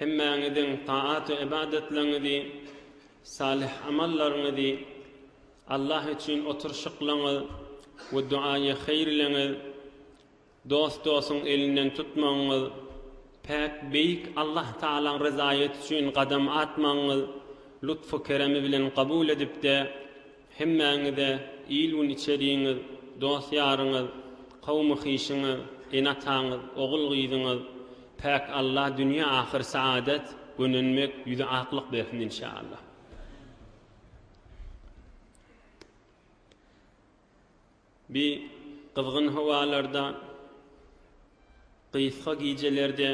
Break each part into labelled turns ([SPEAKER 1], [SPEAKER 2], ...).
[SPEAKER 1] Hemmäňiziň taat-u-ybadatlaryňyzy, salyh amallaryňyzy, Allah üçin oturyşyklaryňyz we duaýy haýyrlygyňyz, dost-dostuň elinden tutmagyňyz, päk Beýik Allah Tagalaň ryzaýaty üçin gadam atmagyňyz lutfy-keremi bilen kabul edipdi. Hemmäňize il-gün içerigiňiz, dost-ýaryňyz, kowmy-kişiňiz, ene-ataňyz, ogul-gyzyňyz, Päk Alla dünýe-ahyr saadet, gönenmek, ýüzi aklyk bersin inşallah. Bi gyzgyn howalarda, gysga gijelerde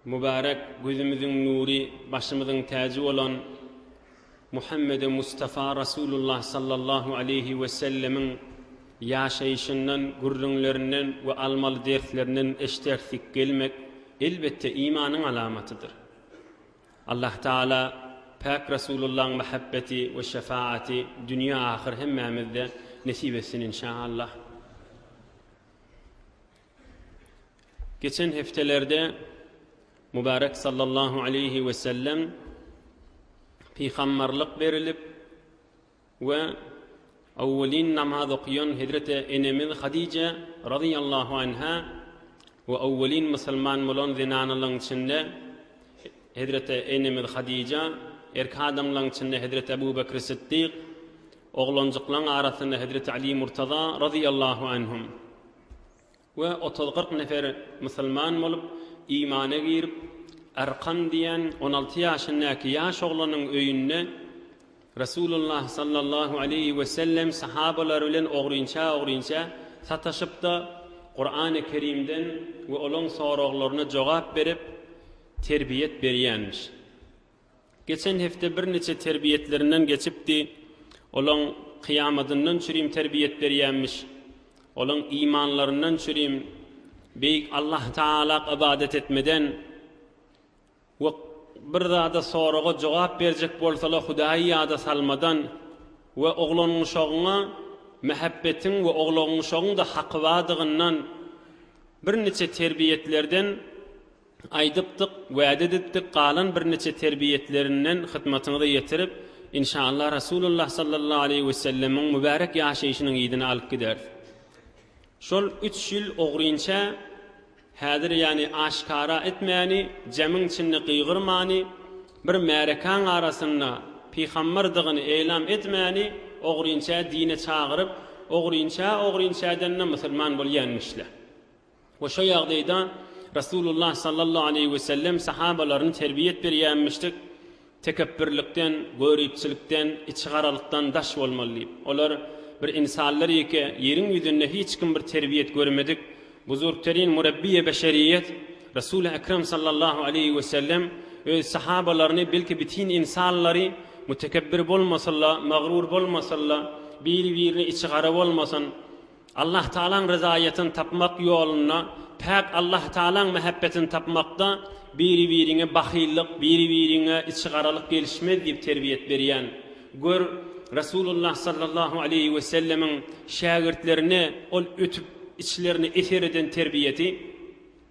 [SPEAKER 1] mübärek gözümiziň nury, başymyzyň täji bolan Muhammede Mustafa Rasulullah sallallahu aleýhi we sellemiň ýaşaýşyndan, gürrüňlerinden we almaly derslerinden eşdersik gelmek, elbetde, imanyň alamatydyr. Allah Taala Päk Rasulullaň mähebbeti we şefaati dünýe ahyr hemmämizde nesip etsin inşa Allah. Geçen hepdelerde Mübärek sallallahu aleýhi we sellem pygamberlik berilip We owwelin namaz okaýan hezreti enemiz Hadije razyýallahu anha we owwelin musulman bolan zenanalaň içinde hezreti enemiz Hadija, erki adamlaň içinde hezreti Ebu Bekri Siddik, oglanjyklaň arasynda hezreti Ali Murtaza razyýallahu anhum. we otuz-kyrk nefer musulman bolup, imana girip, Arkan diýen on alty ýaşyndaky ýaş oglanyň öýünde Resulullah sallallahu aleýhi wesellem sahabalary bilen ogrynça-ogrynça sataşyp-da, Kurany Kerimden we olaň soraglaryna jogap berip, terbiýet berýänmiş. Geçen hepde birniçe terbiýetlerinden geçipdi. Olaň kyýamadyndan çürim terbiýet berýämiş. Olaň imanlaryndan çürim Beýik Allah Tagalak ybadat etmeden we bir zada soraga jogap berjek bolsala Hudaýy ýada salmadan we oglangyşagyňa mähebbetiň we oglagyňyşagyň-da haky badygyndan birniçe terbiýetlerden Aýdypdyk, wäde edipdik galan birniçe terbiýetlerinden hytmatyňyza ýetirip, inşallah Rasulullah sallallahu aleýhi wesellemiň mübärek ýaşaýşynyň yzyny alyp gideris. Şol üç ýyl ogrynça häzir ýany aşkara etmäni, jemiň içinde gygyrmany, bir märekäň arasynda pyhambardygyny eýlam etmäni ogrynça dine çagyryp, ogrynça-ogrynçadan-da musulman bolýanmyşla. We şo ýagdaýda Resulullah sallallahu aleýhi wesellem sahabalaryny terbiýet berýänmişdik, tekepbürlikden, göripçilikden, içigaralykdan daş bolmaly diýip. Olar, Bir insanlar ýeke ýeriň ýüzünde hiç kim bir terbiýet görmedik, buzurgterin murabbiýe beşeriýet, Resul-i Ekrem sallallahu aleýhi wesellem öz sahabalaryny belki bitin insanlary mutekebbir bolmasynla, magrur bolmasynla, biri-birine içigara bolmasyn, Allahtagalaň ryzaýetini tapmak ýolunda, päk Allahtagalaň mähebbetini tapmakda biri-biriňe bahyllyk, biri-biriňe içigaralyk gelişmez diýip terbiýet berýän. Gör, Resulullah sallallahu aleýhi wesellemiň şägirtlerine ol ötüp, içlerini eser eden terbiýesi.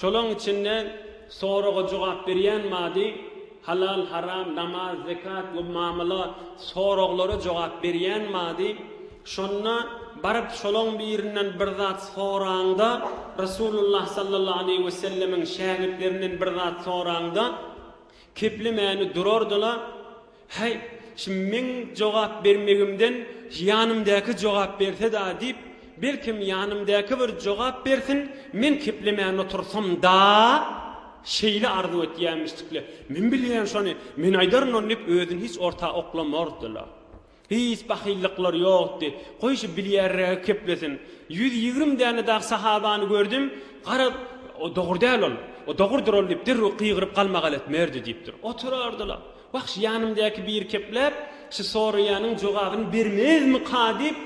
[SPEAKER 1] Şolaň içinde soraga jogap berýän bady, halal, haram, namaz, zekat we mamyla soraglara jogap berýän bady, şonda baryp şolaň birinden bir zat soraňda, Resulullah sallallahu aleýhi we sellemiň şägirtlerinden bir zat soraňda, keplemäni durardylar, Häý, şim meň jogap bermegimden ýanymdäki jogap berse-dä diýip, belkem ýanymdäki bir jogap bersin, men keplemän otursam-da, şeýle arzuw etýämişdik-le. Men bilýän şony, men aýdaryn ony diýip, özüni hiç orta oklamardy-la. Hiç bahyllyklary ýokdy. Goý, şu bilýärregi keplesin. Ýüz ýigrimi däne dagy sahabany gördüm, gara, o dogry däl ol, o dogrudyr ol diýip, derrew gygyryp galmagal etmerdi diýipdir. Oturardy-la. Wah, şu ýanymdaky biri kepläp, şu soraýanyň jogabyny bermezmika diýip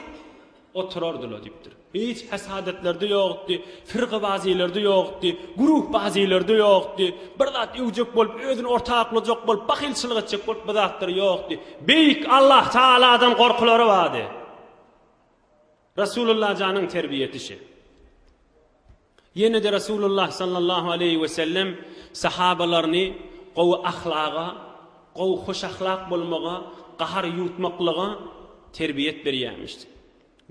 [SPEAKER 1] oturardy-la, diýipdir. Hiç hesadatlarda ýokdy, firgabazylerde ýokdy, guruhbazylerde ýokdy, bir zat öwjek bolup, özüni orta aklajak bolup, bahylçylyk etjek bolup bu zatlar ýokdy. Beýik Allah Tagaladan gorkulary bardy. Resulullah janyň terbiýesi şe. Ýene-de Resulullah sallallahu aleýhi we sellem sahabalaryny gowy ahlaga, gowy hoşahlak bolmaga, gahar ýutmaklyga terbiýet berýärmişdi.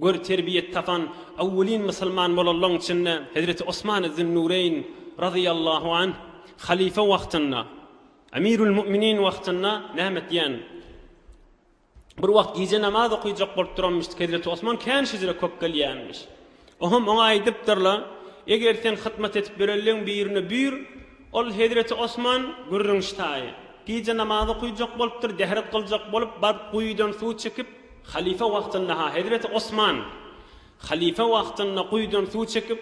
[SPEAKER 1] Gör, terbiýet tapan awwelin musulman bolanlaryň içinde hezreti Osman Zün-Nureýn razyýallahu anh halyfa wagtynda, Emirül-Mu'minin wagtynda näme etýän? Bir wagt gije namaz okyjak bolup duranmyşdyk, hezreti Osman kän şüjre köp gelýänmiş. Oňam oňa aýdypdyrlar, Eger sen hyzmat edip ýörenleň birine buýr, ol hezreti Osman, gürrüň ştaýy, gije namaz okyjak bolupdyr, dehret gyljak bolup, baryp guýudan suw çekip, halypa wagtynda-ha, hezreti Osman, halypa wagtynda guýudan suw çekip,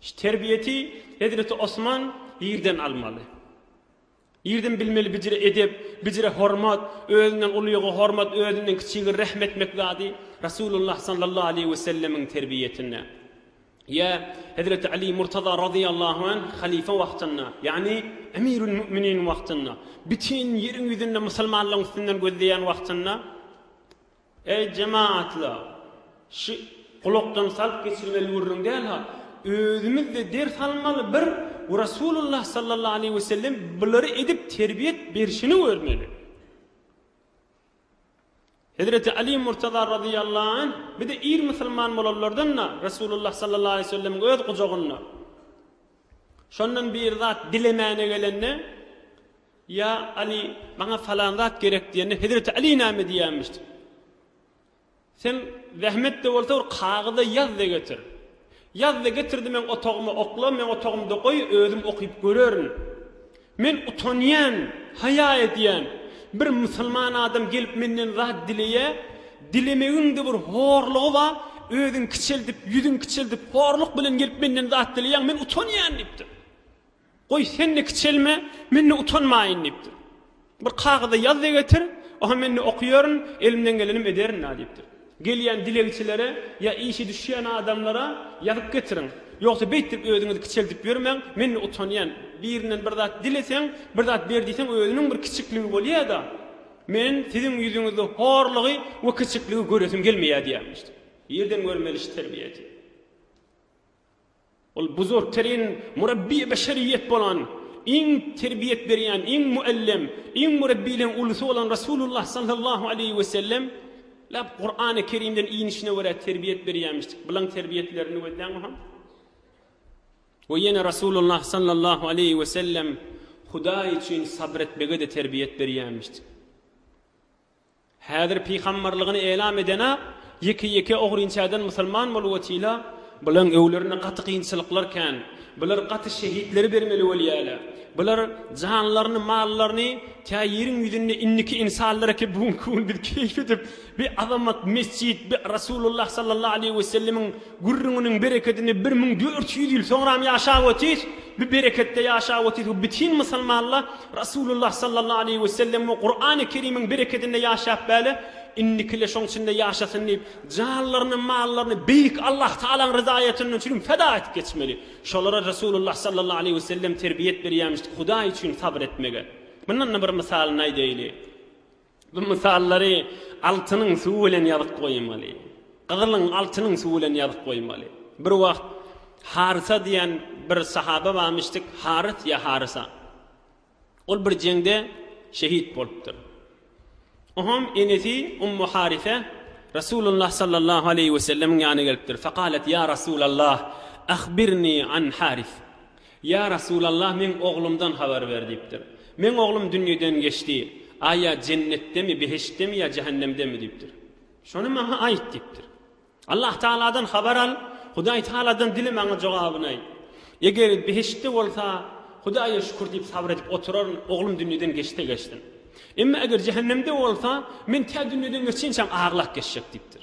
[SPEAKER 1] Şu terbiýeti hezreti Osman ýerden almaly. Ýerden bilmeli bijire edep, bijire hormat, özünden uluýyga hormat, özünden kiçige rehm etmek zady Resulullah sallallahu aleýhi we sellemiň terbiýetinde. Ýa hezreti Ali Murtaza razyýallahu anh halyfa wagtynda, ýagny Emirül Mu'minin wagtynda, bütin ýeriň ýüzünde musulmanlaryň üstünden gözleýän wagtynda Eý, jemagatlar! Şu gulakdan salyp geçirmeli gürrüň däl-ha. Özümiz-de ders almaly bir we Resulullah sallallahu aleýhi we sellem bulary edip terbiýet berşini görmeli. Hezreti Aly Murtaza razyýallahu anh bir-de ir musulman bolanlardan-da Resulullah sallallahu aleýhi we sellemiň öz gujagynda. Şondan bir zat dilemäne gelende. Ýa Aly, maňa falan zat gerek diýende Hezreti Aly näme diýýämiş? Sen zähmet-de bolsa bir kagyza ýaz-da getir. Ýaz-da getir-de meň otagyma okla, meň otagymda goý, özüm okyp görerin. Men utanýan, haýa edýän. Bir musulman adam gelip menden zat dileýä, dilemegiň-de bir horlugy bar, özüň kiçeldip, ýüzüň kiçeldip, horluk bilen gelip menden zat dileýäň, men utanýan diýipdir. Goý, sen-de kiçelme, men-de utanmaýyn, diýipdir. Bir kagyza ýaz-da getir, oha men-de okyörün, elimden gelenem ederin-dä, diýipdir. Gelýän dilegçilere ýa işi düşýän adamlara ýazyp getiriň. Ýogsa beýtdirip özüňizi kiçeldip ýörmäň, men-de utanýan. Birinden bir zat dileseň, bir zat ber diýseň özüniň bir kiçikligi bolýa-da. Men siziň ýüzüňizde horlugy we kiçikligi göresim gelmeýär, diýýärmiş. Ýerden görmeli iş terbiýesi. Ol buzurgterin murabbiý beşeriýet bolan, iň terbiýet berýän, iň muallem, iň murabbiýleň ulusy bolan Resulullah sallallahu aleýhi we sellem läp Kurany Kerimden inişine görä terbiýet berýämişdik. Bulan terbiýetlerini gözläň oňa. We ýene Resulullah sallallahu aleýhi we sellem Hudaý üçin sabr etmege-de terbiýet berýämişdik. Häzir pygambarlygyny elam edenak ýeke ýeke ogrynçäden musulman bolup otyla. Bulaň öwlerinde gaty kynçylyklar kän. Bular gaty şehitleri bermeli bolýala. Bular janlaryny mallaryny tä ýeriň ýüzünde indiki insanlar eke bu günki gün biz keýp edip bi azamat mesjit bi Rasulullah sallallahu aleýhi we sellemiň Gürrüňiniň berekedini bir müň dört ýüz ýyl soňram ýaşap otys, bu bereketde ýaşap otys we bütin musulmanla Rasulullah sallallahu aleýhi we sellem we Kurany Kerimiň berekedinde ýaşap bäle, indikile şoň içinde ýaşasyn diýip janlaryny, mallaryny beýik Allah Taalaň ryzaýatyndan üçin feda edip geçmeli. Şolara Rasulullah sallallahu aleýhi we sellem terbiýet berýämişdi Hudaý üçin sabr etmege. Mundan-da bir mysalyny aýdaýyly. Bu mysallary altynyň suwy bilen ýazyp goýmaly. Gyzylyň, altynyň suwy bilen ýazyp goýmaly. Bir wagt Harysa diýen bir sahaba barmyşdyk, Harys ýa Harysa. Ol bir jeňde şehit bolupdyr. Oňam enesi Ummu Harysa Resulullah sallallahu aleýhi we sellemiň ýanyna gelipdir. Fakalet ýa Resulallah, ahbirni an Harys. Ýa Resulallah, meň oglumdan habar ber diýipdir. Meň oglum dünýeden geçdi. A ýa jennetdemi, behiştdemi ýa jähennemdemi diýipdir. Şony maňa aýt diýipdir. Allah Tagaladan habar al, Hudaý Tagaladan dile maňa jogabyny aýt. Eger behiştde bolsa, Hudaýa şükür diýip sabyr edip oturaryn, oglum dünýeden geçse geçsin. Emma eger jähennemde bolsa, men tä dünýeden geçinçäm aglap geçjek diýipdir.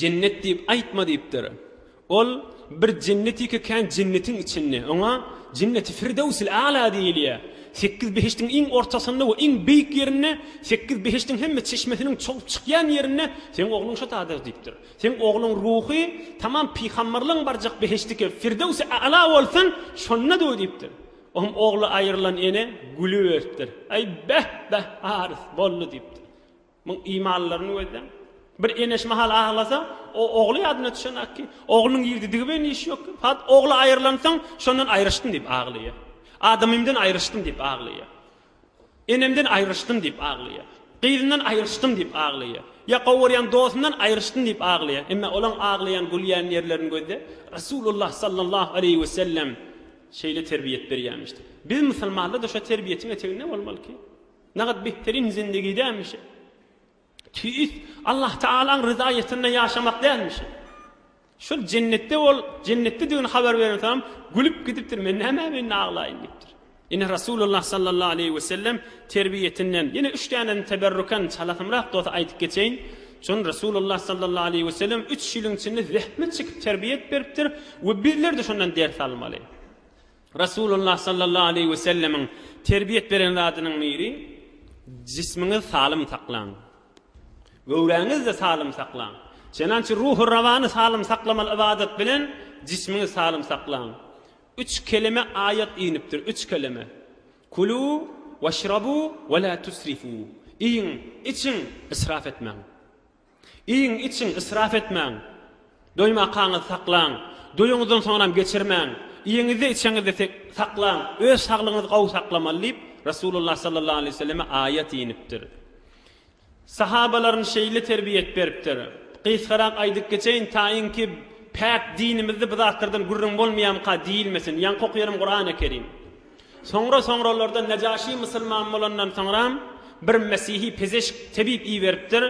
[SPEAKER 1] Jennet diýip aýtma diýipdir. Ol bir jennetika kän jennetiň içinde. Oňa Jenneti Firdewsil Ala diýilýär. Sekiz behiştiň iň ortasynda we iň beýik ýerinde, sekiz behiştiň hemme çeşmesiniň çogup çykýan ýerinde seň ogluň şo taýda diýipdir. Seň ogluň ruhy tamam pygamberligiň barjak behiştiki Firdewsi Ala bolsun, şonda dur diýipdir. Oňam ogly aýrylan ene gülüberipdir. Aý, beh, beh, Arys, boldy diýipdir. Muň imanlylaryny gözleň. Bir ene şu mahal aglasa, o ogly ýadyna düşenok ki, oglunyň girdidigi bilen işi ýok. Hat, ogly aýrylansoň, şondan aýryşdym diýip aglaýar. Adamymdan aýryşdym diýip aglaýar. Enemden aýryşdym diýip aglaýar. Gyzyndan aýryşdym diýip aglaýar. Ýa gowy görýän dostundan aýryşdym diýip aglaýar. Emma olaň aglaýan, gülýän ýerlerini gözle. Resulullah sallallahu aleýhi we sellem şeýle terbiýet berýärmişdi. Biz musulmanlar-da şo terbiýetiň eteginde bolmaly ki, Nähak beterin zindigi dälmişe? Tüýs, Allah Tagalaň ryzaýetinde ýaşamak dälmişe? Şol jennetde ol, jennetdedigini habar berensoňam, gülüp gidipdir, Men nämä men aglaýyn diýipdir. Ine Rasulullah sallallahu aleýhi we sellem terbiýetinden ýene üç dänesini teberrukan çalasymrak dost aýdyp geçeýin. Şony Rasulullah sallallahu aleýhi we sellem üç ýylyň içinde zähmet çekip terbiýe edip beripdir we bizler-de şondan ders almaly. Resulullah sallallahu aleýhi we sellemiň terbiýet beren zadynyň biri, Jismiňizi salym saklaň. Göwräňizi-de salym saklaň. Çenança ruhy rawany salym saklamaly ybadat bilen jismiňizi salym saklaň. Üç kelime aýat inipdir, üç kelime. Kulû weşrabû we lâ tusrifû. Iýiň, içiň, ysrap etmäň. Iýiň, içiň, ysrap etmäň. Doýmakaňyzy saklaň. Doýuňyzdan soňram geçirmäň. Iýeňizde, içeňizde saklaň. Öz saglygyňyzy gowy saklamaly diýip, Resulullah sallallahu aleýhi we selleme aýat inipdir. Sahabalaryny şeýle terbiýet beripdir. Gysgarak aýdyp geçeýin, taýynki päk dinimizde bu zatlardan gürrüň bolmaýamyka diýilmesin. Ýaňky okaýarym Kurany Kerim. Soňra-soňralarda Nejaşy musulman bolandan soňram, bir mesihi pezeşk, tebip iberipdir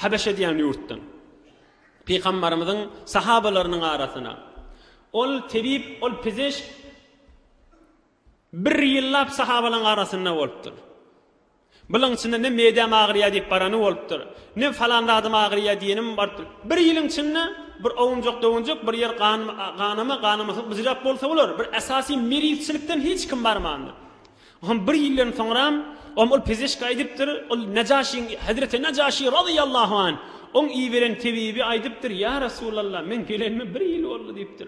[SPEAKER 1] Habeşe diýen ýurtdan, Pygambarymyzyň sahabalarynyň arasyna. Ol tebip, ol pezeşk bir ýyllap sahabalaryň arasynda bolupdyr. Bularyň içinde ne meýdäm agyrýar diýip barany bolupdyr, ne falan zadym agyrýar diýenim barypdyr. Bir ýylyň içinde bir owunjak-dowunjak, bir ýer ganama, ganamaçlyk byjyrak bolsa bolar, bir esasy merizçilikden hiç kim barmandyr. Hom bir ýyldan soňram, hom ol pezeşki aýdypdyr, ol Nejaşyň, hezreti Nejaşy razyýallahu anh, oň iberen tebibi aýdypdyr, Ýa Resulallah, meň gelenime bir ýyl boldy diýipdir.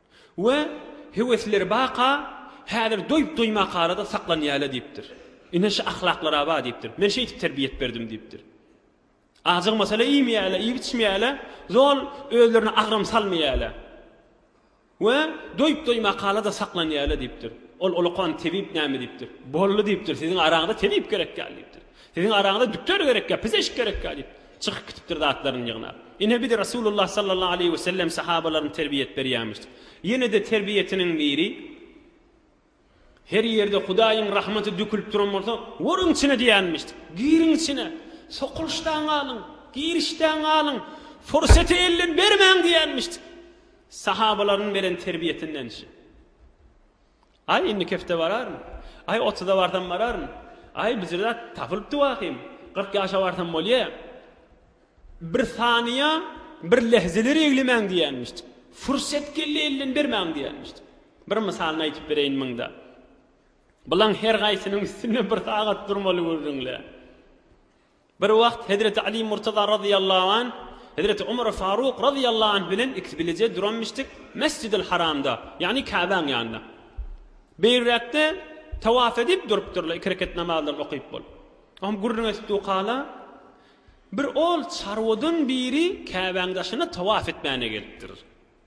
[SPEAKER 1] we höwesleri baka häzir doýup-doýmak arada saklanýaýla diýipdir. Ine şu ahlaklaraba diýipdir. Men şeýdip terbiýe edip berdim diýipdir. Ajygmasalar iýmeýäýle, iýip-içmeýäýle, zol özlerine agram salmaýaýla we doýup-doýmak arada saklanýaýla diýipdir. Ol olakan tebip näme diýipdir. Boldy diýipdir, siziň araňyza tebip gerekýär diýipdir. Siziň araňyza dükter gerekýär, pizeşk gerekýär diýipdir. Çykyp gitipdir zatlaryny ýygnap. Ine biz Resulullah sallallahu aleýhi wesellem sahabalaryny terbiýet berýämişdik. Ýene-de terbiýesiniň biri, Her ýerde Hudaýyň rahmaty dökülip duran bolsa, görüň içine diýenmişdik. Giriň içine, sokulyşdan galyň, girişden galyň, pursaty elden bermäň diýenmişdik. Sahabalarynyň beren terbiýesindençi. Aý, indiki hepde bararyn. Aý, otuza barsam bararyn. Aý, bijir zat tapylypdy wahym. Kyrk ýaşa barsam bolýa. Bir sanyýa, bir lehzeleri eglemäň diýenmişdik. Fursat geldi elden bermäň diýenmişdik. Bir mysalyny aýtyp bereýin muňda. Bulaň her gaýsynyň üstünde bir sagat durmaly gürrüňle. Bir wagt hezreti Aly Murtaza razyýallahu anh, hezreti Omar Faruk razyýallahu anh bilen ikisi bileje duranmyşdyk Mesjidil Haramda, ýagny Käbäň ýanynda. Beýräkde tawaf edip durupdyrlar, iki reket namazlaryny okyp bolup. Oňam gürrüň edip dukala, bir ol çarwadan biri Käbäň daşyna tawaf etmäne gelipdir.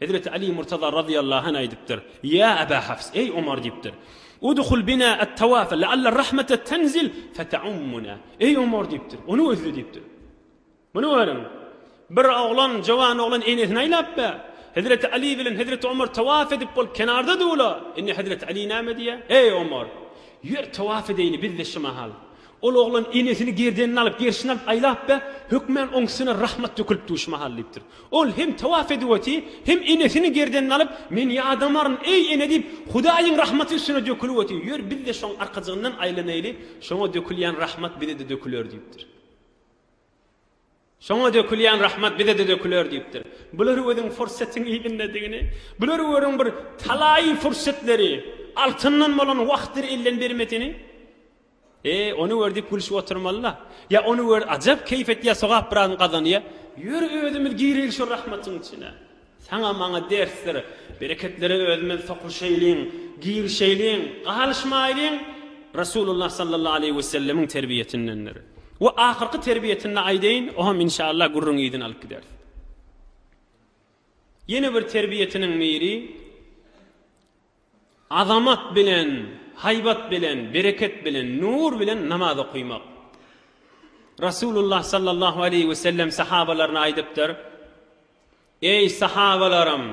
[SPEAKER 1] Hezreti Aly Murtaza razyýallahu anh aýdypdyr, Ýa Aba Hafs, eý Omar diýipdir, Udhul bina at-tawafa la'alla ar-rahmata tanzil fata'ummuna, eý Omar diýipdir, ony gözle diýipdir. Muny görüň, bir oglan, jowan oglan enesini aýlap be, Hezreti Aly bilen Hezreti Omar tawaf edip bolup kenarda dula, indi Hezreti Aly näme diýýär, Eý Omar, ýör tawaf edeýli biz-de şu mahal. Ol oglan enesini gerdenine alyp, gerşine alyp aýlapda, hökman oň üstüne rahmat dökülipdi şu mahal diýipdir. Ol hem tawaf edip oty, hem enesini gerdenine alyp, Men ýadamaryn, eý ene diýip, Hudaýyň rahmaty üstüne dökülip oty, ýör biz-de şoň arkajygyndan aýlanaýly, şoňa dökülýän rahmat bize-de döküler diýipdir. Soňa dökülýän rahmat bize-de döküler diýipdir. Bulary görüň fursatyň yzyndadygyny. Bulary görüň bir talaýy fursatlary, altyndan bolan wagtdyr elden bermesini. E, ony gör diýip gülşüp oturmaly-la. Ýa ony gör ajap keýp etýär, sogap biraz gazanýar. Ýör özümiz gireli şo rahmatyň içine. Saňa maňa dersdir. Bereketlere özümiz sokulşaýlyň, girişeýliň, galyşmaýlyň. Resulullah sallallahu aleýhi wesellemiň terbiýesindendir. We ahyrky terbiýesini-de aýdaýyn, oňam inşaallah gürrüň yzyny alyp gideris. Ýene bir terbiýesiniň biri. Azamat bilen, haýbat bilen, bereket bilen, nur bilen namaz okaýmak. Resulullah sallallahu aleýhi we sellem sahabalaryna aýdypdyr, Eý, sahabalarym!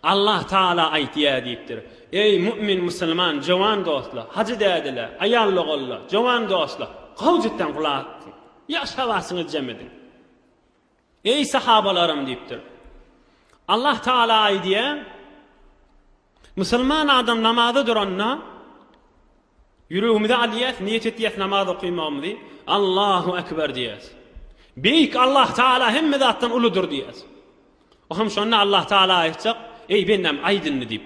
[SPEAKER 1] Allah Tagala aýtýar diýipdir, Eý, mu'min, musulman, jowan dostlar, hajy dädeler, aýal-ogallar, jowan dostlar, gowjutdan gulak tutuň, ýaş hawasyňyzy jem ediň. Eý, sahabalarym! diýipdir. Allah Tagala aýdýar, Musulman adam namaza duranda, ýüregimize alýas, niýet etýäs namaz okymagymyzy, Allahu Ekber diýýäs. Beýik Allah Tagala hemme zatdan uludyr diýýäs. O hem şonda Allah Tagala aýtjak, Eý, bendäm, aýt indi diýip.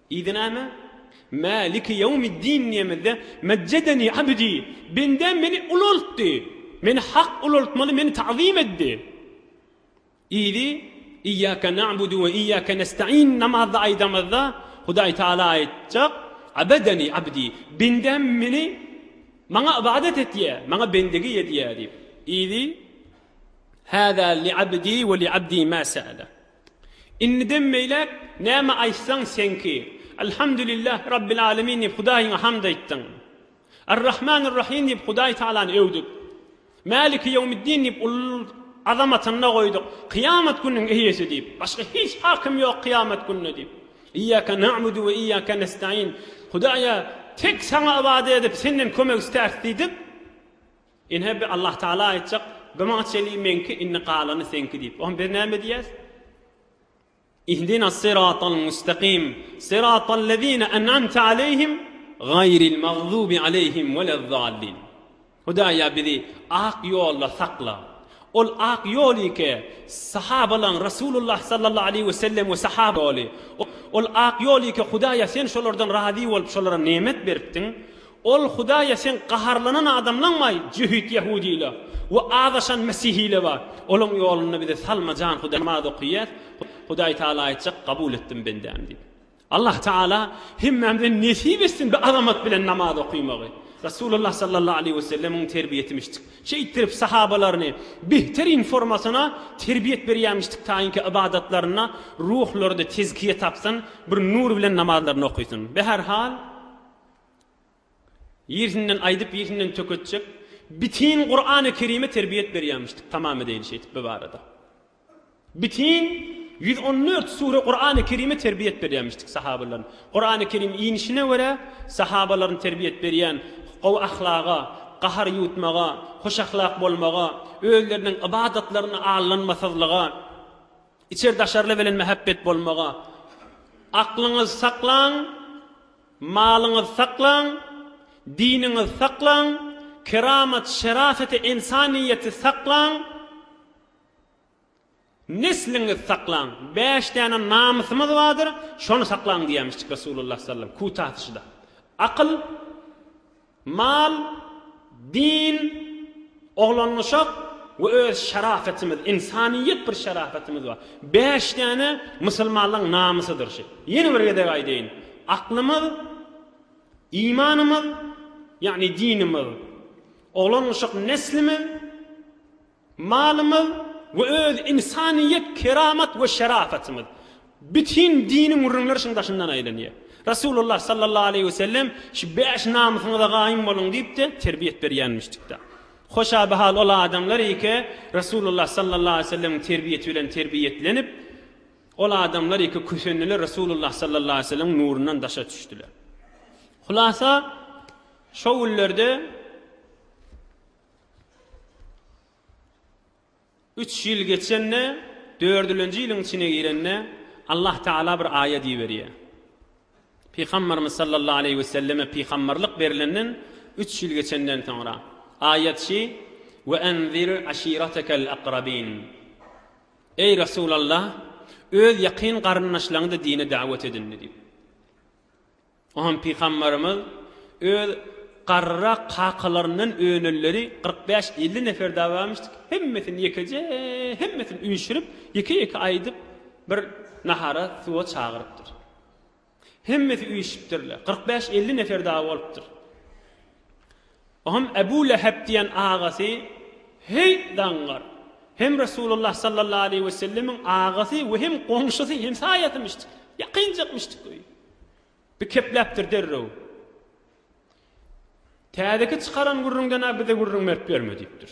[SPEAKER 1] Idi näme? Maliki ýewmiddin diýemizde, Mejjedeni abdi, bendäm meni ulaltdy. Meni Hak ulaltmaly, meni tagzym etdi. Idi, Iýýake na'budu we iýýake nestaîn namazda aýdamyzda, Hudaý Tagala aýtjak, Abedeni abdi, bendäm meni, maňa ybadat etýä, maňa bendigi edýä diýip. Idi, Hâzâ li'abdi we li'abdî mâ se'ele. Indiden beýläk näme aýtsaň seňki. Elhamdülillah Rabbil Alemin diýip Hudaýyňa hamd aýtdyň. Ar-Rahmanur-Rahim diýip Hudaý Tagalany öwdük. Maliki Ýewmiddin diýip ululyk azamatyny goýduk. Kyýamat gününiň eýesi diýip, başga hiç hakym ýok kyýamat gününe diýip. Iyýake na'budu we iyýake nestaîn, Hudaýa tek saňa ybadat edip, senden kömek istäris diýdik. Ine, bi Allahtagala aýtjak, Bu maňa çenli meňki, indi galany seňki diýip. Onda biz näme diýýäs? Ihdinas-syratal müstakym, syratal-lezine en'amte aleýhim, gaýril magzubi aleýhim welezzallin. Hudaý, ýa bizi ak ýolda sakla. Ol ak ýol ýeke sahabalaň, Resulullah sallallahu aleýhi we sellem we sahaba ýoly. Ol ak ýol ýeke Hudaý, ýa Sen şolardan razy bolup, şolara nemet beripdiň. Ol Hudaýa sen gaharlanan adamlaňmaý, jöhit ýahudylar we azaşan mesihiler bar. Olaň ýolunda bize salma jan Hudaý namaz okyýas, Hudaý Taala aýtjak kabul etdim bendäm diýip. Allah Taala hemmämize nesip etsin bi azamat bilen namaz okymagy. Rasulullah sallallahu aleýhi we sellemiň terbiýetimişdik. Şeýtdirip sahabalaryny behteryn formasyna terbiýet berýämişdik taýynki ybadatlarynda ruhlarda tezkiýe tapsyn, bir nur bilen namazlaryny okysyn. Be her hal. Ýersinden aýdyp ýersinden töketjek bitin Kurany Kerime terbiýet berýämişdik tamam edeýin şeýdip bu barada. Bitin ýüz on dört sure Kurany Kerime terbiýet berýämişdik sahabalaryň. Kurany Kerim inişine görä sahabalaryň terbiýet berýän gowy ahlaga, gahar ýutmaga, hoş ahlak bolmaga, özleriniň ybadatlaryny allanmasyzlyga, içer daşarly bilen mähebbet bolmaga. Aklyňyz saklaň Malyňyzy saklaň, diniňizi saklaň, keramat, şerafeti, ensaniýeti saklaň, nesliňizi saklaň, bäş däne namysymyz bardyr, şony saklaň diýýämişdik Resulullah sallam, kutasyşda. Akyl, Mal, din, oglangyşak we öz şarapetimiz, ynsanyýet bir şarapetimiz bar. Bäş däne musulmanlygyň namysydyr şu. Ýene bir gezek aýdaýyn, aklymyz, imanymyz, ýagny dinimiz, oglangyşak neslimiz, Malymyz we öz ynsanyýet keramat we şerafetimiz bütin diniň gürrüňleri şuň daşyndan aýlanýar. Resulullah sallallahu aleýhi we sellem şu bäş namysyňyza gaýym boluň diýip-de terbiýet berýänmişdikdä. Hoşaby hal ol adamlar ike Resulullah sallallahu aleýhi we sellemiň terbiýeti bilen terbiýetlenip, ol adamlar ike kösendiler Resulullah sallallahu aleýhi we sellemiň nurundan daşa düşdüler. Hulasa şo günlerde. Üç ýyl geçende, dördülenji ýylyň içine girende, Allah Tagala bir aýat iberýär. Pygamberimiz sallallahu aleýhi we selleme pygamberlik berilenden üç ýyl geçenden soňra, aýat şi, We enzir aşiratekel akrabin. Eý Resulallah, öz ýakyn garyndaşlaňy-da dine dawet edindi diýip. Oňa pygamberimiz öz garryrak kakalaryndan önenleri kyrk bäş elli nefer dagy barmyşdy ki, hemmesini ýekeje, hemmesini üýşürip, ýeke-ýeke aýdyp, bir nahara, suwa çagyrypdyr. Hemmesi üýşüpdirler. Kyrk bäş elli nefer dagy bolupdyr. Oňam Ebu Lehep diýen agasy heý daňar. Hem Resulullah sallallahu aleýhi we sellemiň agasy we hem goňşusy, hemsaýasymyşdyk, ýakynjakmyşdyk öýi. Bi kepläpdir derrew. Täzeki çykaran gürrüňden-ä bize gürrüň berip ýörme diýipdir.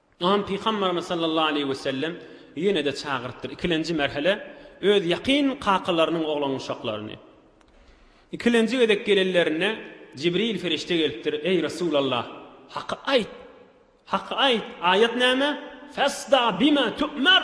[SPEAKER 1] Ynsan Pygamberimiz sallallahu aleýhi we sellem ýene-de çagyrypdyr, ikilenji merhele öz ýakyn kakalarynyň oglanuşaklaryny. Ikilenji gezek gelenlerinde Jibril ferişde gelipdir, Eý Resulallah, haky aýt! Haky aýt! Aýat näme? Fasda bima tu'mar!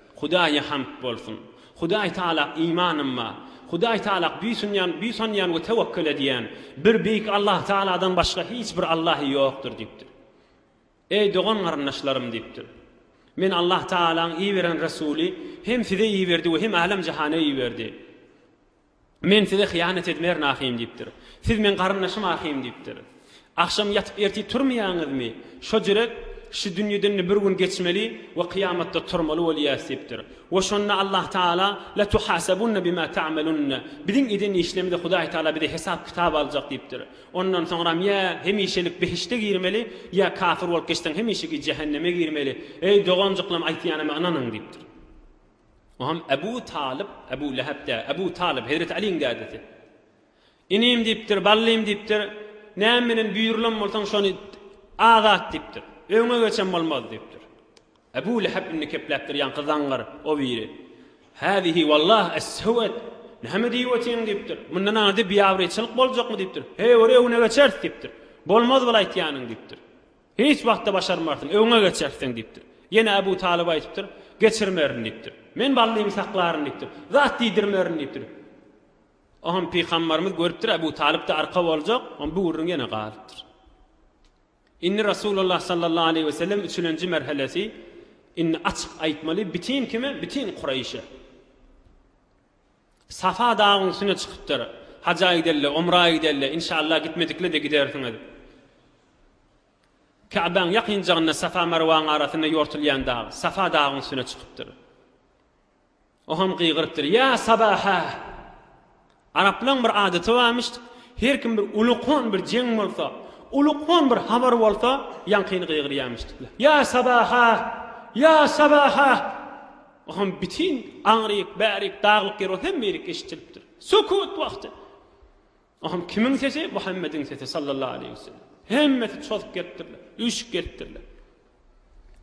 [SPEAKER 1] Hudaýa hamd bolsun! Hudaý Tagala imanym bar. Hudaý Tagala buýsanýan, buýsanýan we tewekgel edýän. Bir Beýik Allah Tagaladan başga hiç bir Allahy ýokdur diýipdir. Eý dogan-garyndaşlarym diýipdir. Meni Allah Tagalaň iberen resuly hem size iberdi we hem älem-jahana iberdi. Men size hyýanat edmerin ahym diýipdir. Siz meň garyndaşym ahym diýipdir. Agşam ýatyp ertir turmaýaňyzmy? Şo jürek şu dünýeden-de bir gün geçmeli we kyýamatda turmaly bolýas diýipdir. We şonda Allah Taala, La tuhasabunna bima ta'malunna, biziň eden işlerimizi Hudaý Taala bize hesap-kitap aljak diýipdir. Ondan soňram ýa hemişelik behişde girmeli, ýa kafir bolup geçseň hemişeki jähenneme girmeli. Eý doganjyklarym aýtýanyma ynanyň diýipdir. O hem Ebu Talyp, Ebu Lehep däl, Ebu Talyp, Hezreti Aliýiň dädesi. Inim diýipdir, ballym diýipdir, näme bilen buýrulan bolsaň şony azat diýipdir. Öňe geçen bolmaz diýipdir. Ebu Lehep indi kepläpdir, ýaňky zaňňar o biri. Häzihi wallah es-sewet. Näme diýip otyň diýipdir. Mundan ady biabraýçylyk boljakmy diýipdir. Heý, ori öňe geçeris diýipdir. Bolmaz bul aýtýanyň diýipdir. Hiç wagtda başarmarsyň, öňe geçersiň diýipdir. Ýene Abu Talyba aýdypdyr, Geçirmerin diýipdir. Men Ballymy saklaryn diýipdir. Zat diýdirmerin diýipdir. Oňam Pygambarymyz görüpdir, Abu Talyp-da arka boljak, oňa bu gürrüň ýene galypdyr. Indi Rasulullah sallallahu aleýhi wesellem üçülenji merhelesi, Indi açyk aýtmaly bütin kime, bütin Kureýşe. Safa dagyň üstüne çykypdyr. Haja gideli, umra gideli, inşallah gitmedikle-de gidersiňiz. Käbäň ýakynjagynda Safa Marwaň arasynda ýortulýan dag, Safa dagyň üstüne çykypdyr. O hem gygyrypdyr, Ýa Sabaha! Araplaň bir adaty barmyş, her kim bir ulukan bir jeň bolsa, ulukan bir habar bolsa, ýaňkyny gygyrýarmyş. Ýa Sabaha! Ýa Sabaha! Oňa bütin aňryk, bärik, daglyk ýer bolup hemme ýerik eşidilipdir. Sukut wagty. Oňa kimiň sesi? Muhammediň sesi sallallahu aleýhi we sellem. Hemmesi çozup gelipdirler, üýşüp gelipdirler.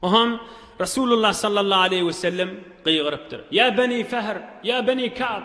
[SPEAKER 1] Oňa Resulullah sallallahu aleýhi we sellem gygyrypdyr. Ýa beni Fehr, ýa beni Kab.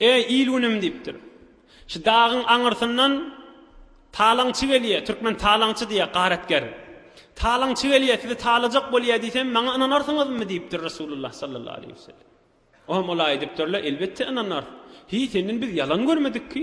[SPEAKER 1] Eý, il-günüm! diýipdir. Şu dagyň aňyrsyndan talaňçy gelýär, türkmen talaňçy diýýär, garatger. Talaňçy gelýär, sizi talajak bolýar diýsem, maňa ynanarsyňyzmy? diýipdir Resulullah sallallahu aleýhi we sellem. Olam olaý diýipdirler, elbetde ynanarys. Hiý, senden biz ýalan görmedik ki?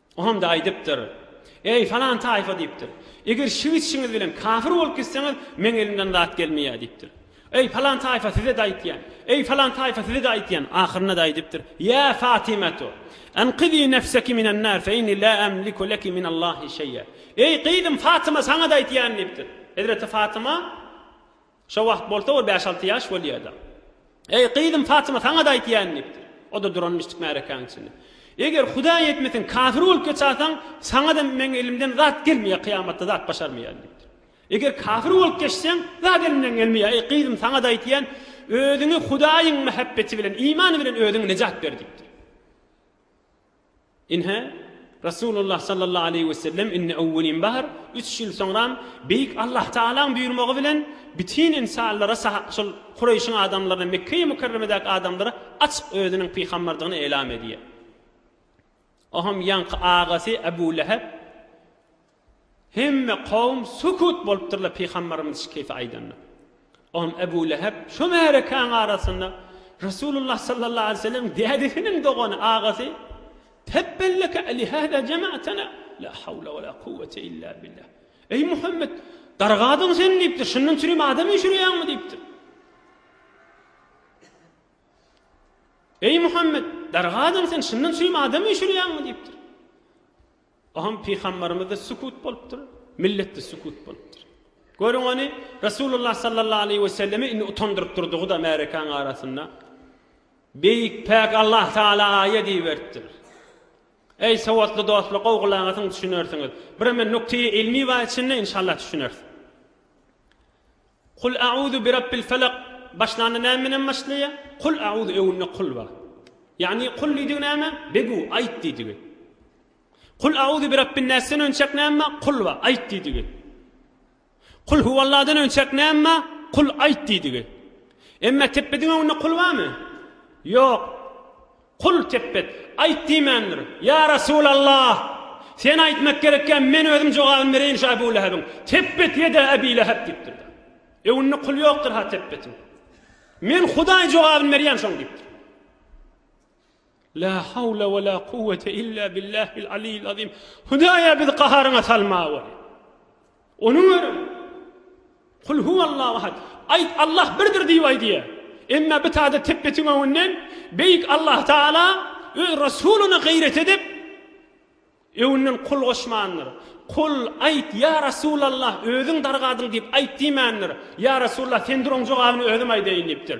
[SPEAKER 1] Onda aýdypdyr, Eý, falan taýfa diýipdir. Eger şiw-içişiňiz bilen kafir bolup gitseňiz, meň elimden zat gelmeýär diýipdir. Eý, falan taýfa size-de aýtýan. Eý, falan taýfa size-de aýtýan. Ahyrynda-da aýdypdyr, Ýa Fatymato, enqizî nefseki minen-nar fe inni la emliku leki minel-lahi şeý'a. Eý, gyzym Fatyma saňa-da aýtýan diýipdir. Hezreti Fatyma. Şo wagt bolsa ol bäş-alty ýaş bolýar-da. Eý, gyzym Fatyma, saňa-da aýtýan, diýipdir. O-da duranmyşdyk märekäniň içinde. Eger Hudaý etmesin, kafir bolup geçäýseň, saňa-da meň elimden zat gelmeýär, kyýamatda zat başarmaýaryn, diýipdir. Eger kafir bolup geçseň, zat elimden gelmeýär. Eý, gyzym, saňa-da aýtýan, özüňi Hudaýyň mähebbeti bilen, imany bilen özüňi nejat ber, diýipdir. Ine, Resulullah sallallahu aleýhi wesellem indi öwwelin bahar, üç ýyl soňram Beýik Allah Tagalaň buýurmagy bilen bütin ynsanlara şol Kureýşiň adamlaryna, Mekgeýi Mükerremedäki adamlara açyk özüniň pygamberdigini elam edýär. Oham ýaňky agasy Ebu Lehep Hemme kowum sukut bolupdyrlar Pygamberimiz şu keýpi aýdanda. Onam Ebu Lehep şu märekäň arasynda Resulullah sallallahu aleýhi we sellemiň dädesiniň dogany, agasy, Tebbelleke alihada jema'tena, la hawla we la kuwwete illa billah. Eý Muhammet, dargadyň sen diýipdir, şundan üçin hem adam öçürýäňmi diýipdir. Eý Muhammet, dargadyň sen şundan üçin hem adam öçürýäňmi diýipdir. Oňa pygamberimiz-de sükut bolupdyr, millet-de sükut bolupdyr. Görüň ony Resulullah sallallahu aleýhi we sellemi indi utandyryp durdugy-da märekäň arasynda. Beýik päk Allah Taala aýa diýiberipdir. Eý sowatly dostlar gowy gulak asyň düşünersiňiz. Birem men nukteýi ylmy bar içinde inşallah düşünersiň. Kul a'uzu bi Rabbil Felak başlanda näme bilen başlaýa? Kul a'uzu öňünde kul bar. Ýagny kul diýdigi näme? Begu, aýt diýdigi. Kul a'uzu bi Rabbin Näsden önçäk näme bar? Kul bar, aýt diýdigi. Kul huwalladan önçäk näme bar? Kul aýt diýdigi. Emma tepbediň öňünde kul barmy? Ýok. Kul tepbet, Aýt diýmändir. Ýa Resulallah! Sen aýtmak gerekkä, men özüm jogabyny bereýin şu Abu Lehebiň. Tepbet ýeda Abi Leheb diýipdir. Öňünde kul ýokdur-ha tepbetiň. Men Hudaý jogabyny berýän şoň diýipdir. La hawla we la kuwwete illa billahil aliyil azim. Hudaý-a bizi gaharyňa salma weli. Onuň örän Kul huwallahu ahad, Aýt, Allah birdir diýip aý diýýär. Emma bu taýda tepbetiň öňünden Beýik Allah Tagala Öz Resulyna gaýrat edip, öňünden Kul goşmandyr. Kul, Aýt, ýa Resulallah, özüň dargadyň diýip aýt diýmändir. Ýa Resulallah, sendir oň jogabyny özüm aýdaýyn diýipdir.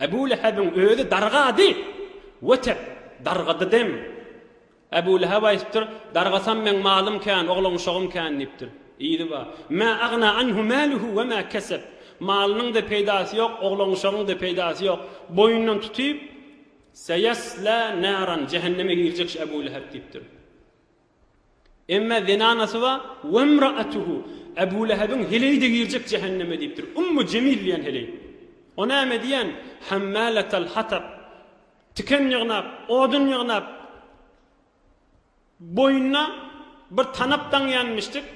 [SPEAKER 1] Ebu Lehebiň özi dargady. Wetep, dargadydem. Ebu Leheb aýdypdyr, Dargasam meň malym kän, oglan-uşagym kän diýipdir. Yzy bar. Mä agna anhu mäluhu we mä kesep. Malynyň-da peýdasy ýok, oglan-uşagyň-da peýdasy ýok. Boýundan tutyp, Seýesla naran, jähenneme girjek şu Ebu Leheb diýipdir. Emme zenanasy ba Wemraatuhu, Ebu Lehebiň heleýi-de girjek jähenneme diýipdir. Ummu Jemil diýen heleý. O näme diýen? Hammalatal hatab. Tiken ýygnap, odun ýygnap, boýnuna bir tanap daňýanmyşdyk,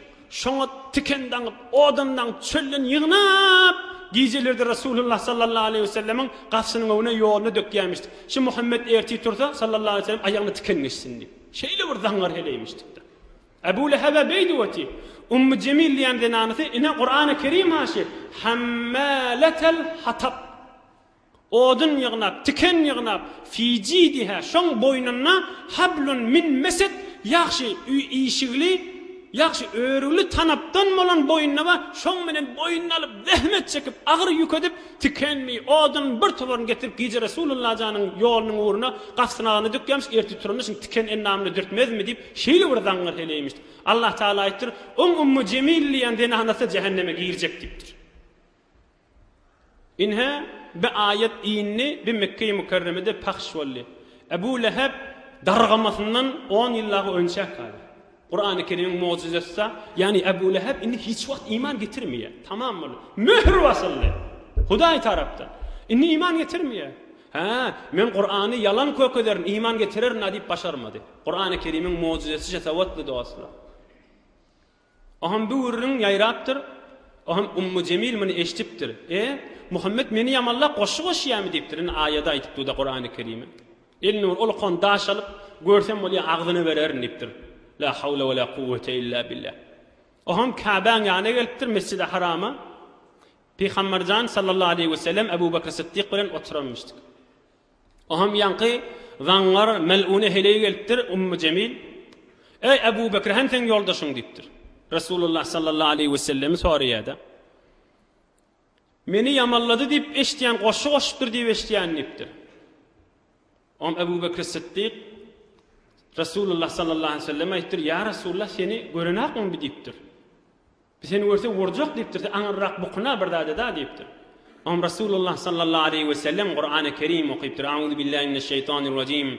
[SPEAKER 1] şoňa tiken daňyp, odun daňyp, çölden ýygnap, gijeleri-de Resulullah sallallahu aleýhi wesellemiň garşynyň öňüne, ýoluna dökýänmişdik. Şu Muhammet ertir tursa, sallallahu aleýhi wesellem aýagyna tiken geçsin diýip. Şeýle bir zaňňar heleýmişdik-de. Ebu Lehebe beýdip öti, Ummu Jemil diýen zenanasy ine Kurany Kerim aşy Hammaletel Hatab. Odun ýygnap, tiken ýygnap, fi jidiha, şoň boýnunda hablun min mesed, ýagşy işigli, ýagşy örügli tanapdan bolan boýnuna we şoň menen boýnuna alyp, zähmet çekip, agyr ýük edip, Tikenmi, odunyň bir toparyny getirip gije Resulullah janyň ýolunyň ugruna gapsynagana dökýämiş, ertir turanyşyn tiken endamyny dürtmezmi diýip şeýle bir zaňňar heleýmişdi. Allah Tagala aýtdyr, Oň Ummu Jemil diýýän zenanasy jähenneme girjek diýipdir. Ine, bi aýat indi, bi Mekgeýi Mükerremede pahyş boldy. Ebu Lehep dargamasyndan on ýyl dagy önçäk galdy. Kurany Kerimiň mojizesida, ýagny Ebu Lehep indi hiç wagt iman getirmeýär. Tamam boldy. Möhür basyldy. Hudaý tarapdan. Indi iman getirmeýär. Hä, men Kurany ýalan kökederin, iman getirerin-a diýip başarmady. Kurany Kerimiň mojizesi şetawatly dostlar. Oham bu gürrüň ýaýrapdyr. Oham Ummu Jemil muny eşdipdir. E, Muhammet meni ýamanlap goşgy goşýamy diýipdir. Indi aýady aýdyp duda Kurany Kerimi. Elnur ol kon daş alyp, görsem bolýa agzyna bererin diýipdir. La hawla we la kuwwete illa billa. Ohaň Käbäň ýanyna gelipdir, Mesjidi Harama. Pygamber jan sallallahu aleýhi we sellem Ebu Bekr Sytdyk bilen oturanmyşdyk. Ohaň ýaňky zaňňar melune heleý gelipdir, Ummu Jemil. Eý Ebu Bekr hem seň ýoldaşyň diýipdir. Resulullah sallallahu aleýhi we sellemi soraýada. Meni ýamanlady diýip eşitýän, goşgy goşupdyr diýip eşitýän diýipdir. Oňa Ebu Bekri Sytdyk Resulullah sallallahu aleýhi we selleme aýdypdyr, Ýa Resulullah, seni görenakmy bi diýipdir. Bi seni görse urjak diýipdir, sen aňyrrak bukuna bir zat eda diýipdir. Oňa Resulullah sallallahu aleýhi we sellem Kurany Kerim okypdyr, Auzubillahi mineşşeýtanirrajim.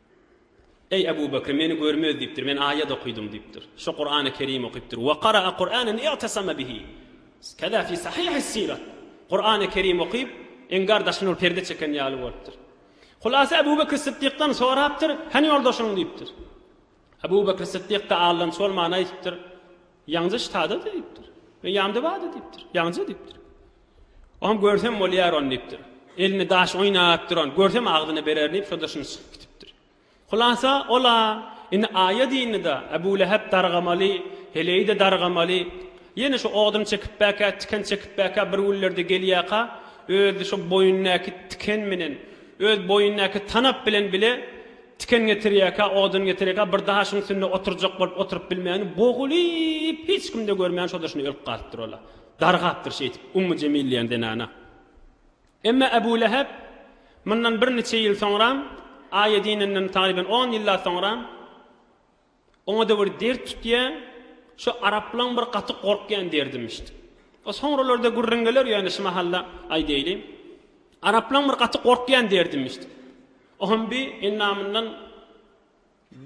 [SPEAKER 1] Eý, Ebu Bekr, meni görmez diýipdir, men aýat okydym diýipdir. Şo Kurany Kerim okypdyr. Ve kara'a Kur'anen i'tesama bihi. Keza fi Sahihis Sirat. Kur'any Kerim okyp, engar daşyny bir perde çeken ýaly bolupdyr. Hulasa Ebu Bekr Syddykdan sorapdyr, Hany ýoldaşyň diýipdir. Ebu Bekr Syddyk-da aldanç bolman aýdypdyr, Ýaňja ştada-da diýipdir. Men ýamda bar-da diýipdir. Ýaňja diýipdir. Oňam görsem bolýar ony diýipdir. Elinde daş oýnap duran, görsem agzyna bererin diýip, şonda şuny çykyp gitipdir. Hulasa, ol-a indi aýa dyndy-da, Ebu Lehep dargamaly, heleýi-de dargamaly. Ýene şu odun çekipbäkä, tiken çekipbäkä bir günlerde gelýärka, özi şu boýnundaky tiken bilen, öz boýnundaky tanap bilen bile Tiken getirýärkä, odun getirýärkä bir daşyň üstünde oturjak bolup oturyp bilmäni bogulyp hiç kimde görmän şo-da şuny ölüp galypdyr ol-a. Dargapdyr şeýdip Ummu Jemil diýen zenana. Emma Ebu Lehep mundan birniçe ýyl soňram, aýa dininden tagryban on ýyllap soňram, Oňa-da bir dert tutýa, şu araplaň bir gaty gorkýan derdimişdi. O soňralarda gürrüň geler, ýöne şu mahal-da aýdaýly. Araplaň bir gaty gorkýan derdimişdi. O hem bi endamyndan